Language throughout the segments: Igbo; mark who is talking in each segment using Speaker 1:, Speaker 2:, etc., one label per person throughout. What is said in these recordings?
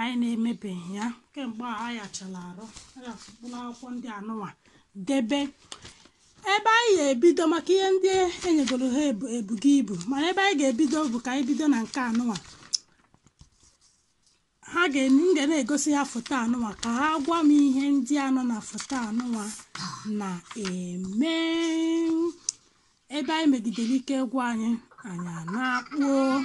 Speaker 1: anyị na-emebeghị ya kemgbe a ayachala arụ ayafụkpụrụ akwụkwọ ndị anụnwa debe ebe anyị ga-ebido maka ihe ndị e nyegoro ha ebu- ebugo ibu mana ebe anyị ga-ebido bụ ka anyị bido na nke anụnwa ha ga m ga na-egosi ha foto anụnwa ka ha gwa m ihe ndị anọ na foto anụnwa na-eme ebe anyị megidere ike gwụ anyị anyị anakpọọ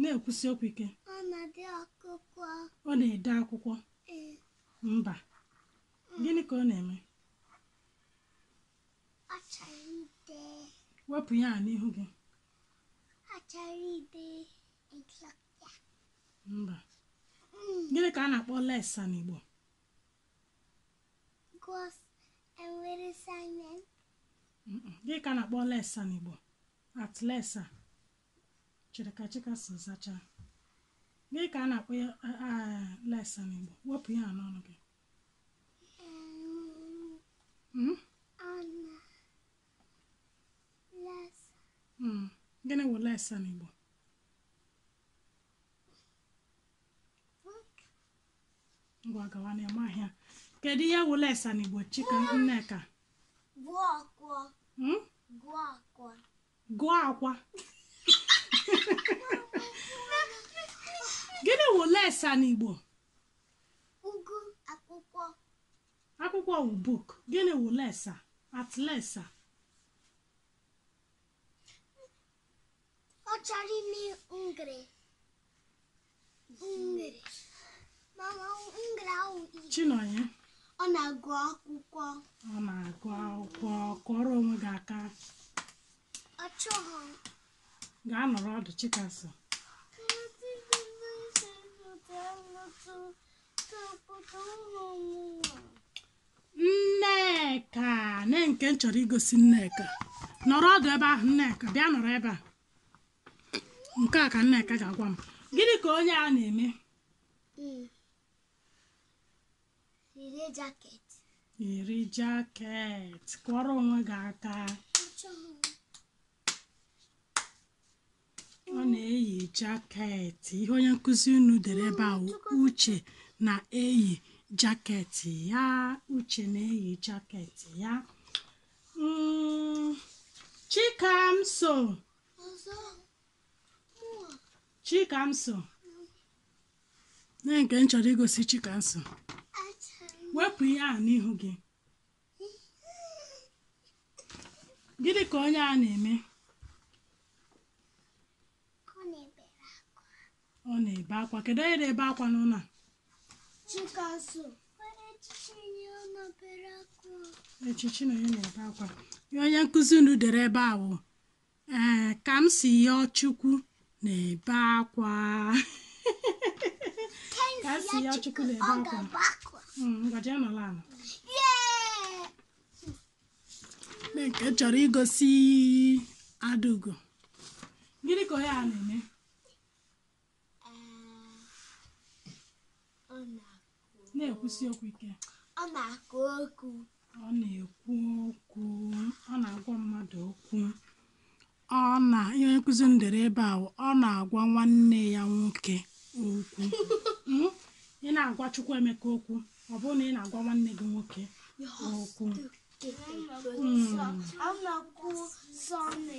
Speaker 1: na-ekwusi okwu ike ọ na-ede akwụkwọ mba gịnị ka ọ na-eme wepụ ya n'ihu gị mba gịnị ka a na-akpọ lesa n'Igbo Gụs enwere samen. Gịnị ka a na-akpọ lesa n'Igbo at lesa chere ka chikamso zachaa gịnị ka a na-akpọ lesa n'Igbo wepụ ya n'ọnụ gị hmm? hmm. gịnị wụ lesa n'Igbo ngwa gawa na ị mahị ya kedu ihe wụ lesa na igbo chika nneka gụọ akwa Hmm? gụọ akwa gụọ akwa gịnị wụ lesa na igbo ịgụ akwụkwọ akwụkwọ wụ book gịnị wụ lesa at lesa ọ chọrọ ime ngre Chinonye ọ
Speaker 2: na-agụ akwụkwọ ọ na-agụ akwụkwọ
Speaker 1: kụọrọ onwe gị aka ọ chọghị
Speaker 2: gaa nọrọ
Speaker 1: ọdụ chikamso nneka nee nke m chọrọ igosi nneka nọrọ ọdụ ebe ahụ nneka bịa nọrọ ebe a nke a ka Nneka ga-agwa m gịnị ka onye a na-eme yiri jaket yiri jaket kụọrọ onwe gị aka ọ na-eyi jaket ihe onye nkụzi unu dere ebe a wụ uche na-eyi jaket ya uche na-eyi jaket ya Mm, chikamso chikamso na nke m chọrọ igosi chikamso wepụ ihe ahụ n'ihu gị gịnị ka onye a na-eme ọ na-ebe akwa kedu onye na-ebe akwa n'ụlọ a ee chi chinonye na-ebe akwa ihe onye nkụzi unu dere ebe a wụ ee kamsiyọchukwu na-ebe akwa kamsiyọchukwu na-ebe akwa mm, ngwa jee nọla ala mee nke m chọrọ igosi adaugo gịnị ka onye a na-eme na-ekwusi okwu ike ọ
Speaker 2: na-akụ okwu ọ na-ekwu
Speaker 1: okwu ọ na-agwa mmadụ okwu ọ na ihe onye nkụzi unu dere ebe a wụ, ọ na-agwa nwanne ya nwoke okwu Mm? ị na-agwa Chukwuemeka okwu ọ bụrụ na ị na-agwa nwanne gị nwoke okwu Mm. ọ na-akụ sọnị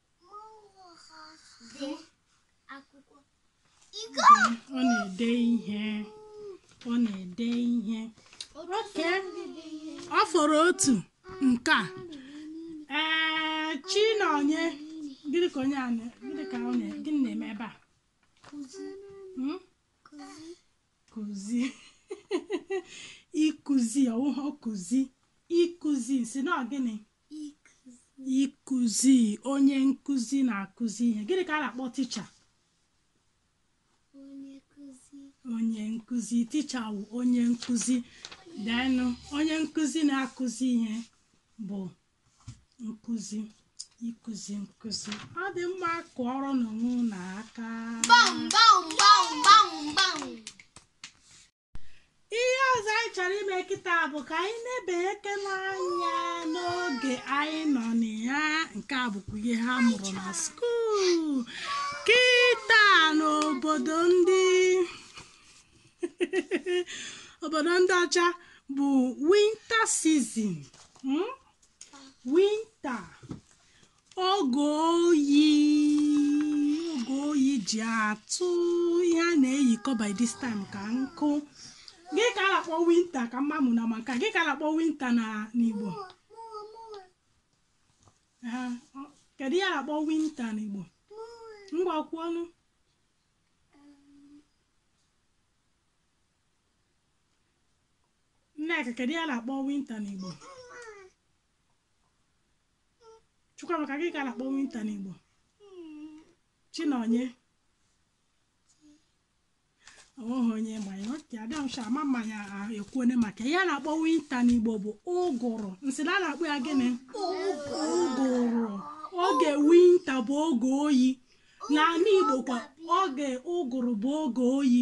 Speaker 1: ọ na-ede ihe ọ na-ede ihe oke ọ fọrọ otu nke a ee chinonye gịnị ka onye a na- gịnị ka ọ na- gịnị na-eme ebe a Hmm? kụzi ịkụzi ọ wụhụ kụzi ịkụzi sị na ọ gịnị ịkụzi onye nkụzi na-akụzi ihe gịnị ka a na-akpọ ticha onye nkụzi ticha wụ onye nkụzi denụ onye nkụzi na-akụzi ihe bụ nkụzi ịkụzi nkụzi ọ dị mma kụọrọnụ onwe unu aka Bam, bam, bam, bam, bam. ihe ọzọ anyị chọrọ ime kịta bụ ka anyị nebakene anya n'oge anyị nọ na ya nke a bụkwa ihe ha mụrụ na skuul kịta n'obodo ndị obodo ndị ọcha bụ winter season winter oge oyi oge oyi ji atụ ihe a na-eyikọ by this time ka nkụ gịnị ka a na-akpọ winter ka mma mụ na maka gịnị ka a na-akpọ winter na n'igbo Ee, ọ- kedu ihe a na-akpọ winter n'igbo ngwa kwuonụ nneka kedu ihe a na-akpọ winter n'igbo Chukwuamaka gịnị ka a na-akpọ winter n'Igbo Chinonye o nweghị onye ma ya okay adamsha ama m na anyị ekwuone maka ihe a na-akpọ winter n'Igbo bụ ụgụrụ m sị na a na-akpọ ya gịnị ụgụrụ oge winter bụ oge oyi n'ala Igbo kwa oge ụgụrụ bụ oge oyi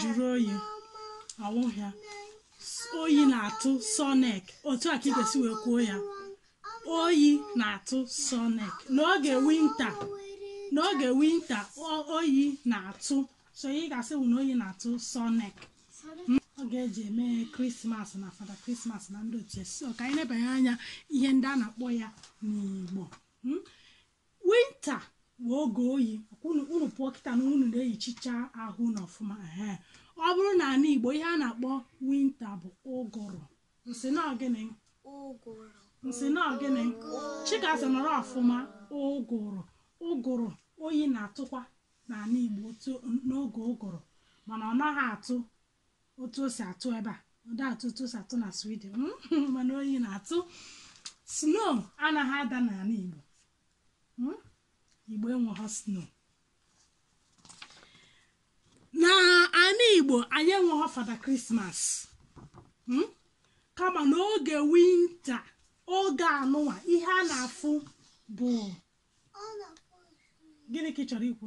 Speaker 2: jụrụ
Speaker 1: oyi ọ wụghị ya oyi na-atụ Sonic otu a ka ị ga-esi wee kwuo ya oyi na-atụ Sonic n'oge winter n'oge winter o- oyi na-atụ so ị ga-asị wụ na oyi na-atụ Sonic oge e ji eme krismas na fada krismas na ndị otu ya so ka anyị nebanye anya ihe ndị a na-akpọ ya n'igbo Mm? Winter bụ oge oyi unu unu pụọ kịta na unu na-eyichicha ahụ unu ọfụma ehe ọ bụrụ n'ala Igbo ihe a na-akpọ winter bụ ụgụrụ m sị na ọ gịnị ụgụrụ m sị na ọ gịnị Chikasị nọrọ ọfụma ụgụrụ ụgụrụ oyi na-atụkwa n'ala Igbo n'oge ụgụrụ mana ọ naghị atụ otu o si atụ ebe a ọ dị atụ otu o si atụ na Sweden mm, mana oyi na-atụ snow anaghị ada n'ala igbo Mm, igbo enweghị snow n'ala igbo anyị enweghị fada krismas Mm, kama n'oge winter oge anụwa ihe a na-afụ bụ gịnị ka ị chọrọ ikwu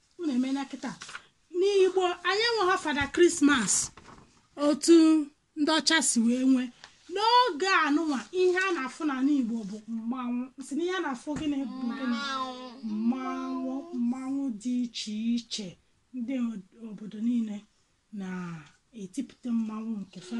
Speaker 1: unu emela kịta n'igbo anyị enweghị fada krismas otu ndị ọcha si wee nwee n'oge anụnwa ihe a na-afụ n'ala igbo bụ mmanwụ m sị na ihe a na-afụ gịnị bụ gịnị mmanwụ mmanwụ dị iche iche ndị obodo niile na-etipụta mmanwụ nke fa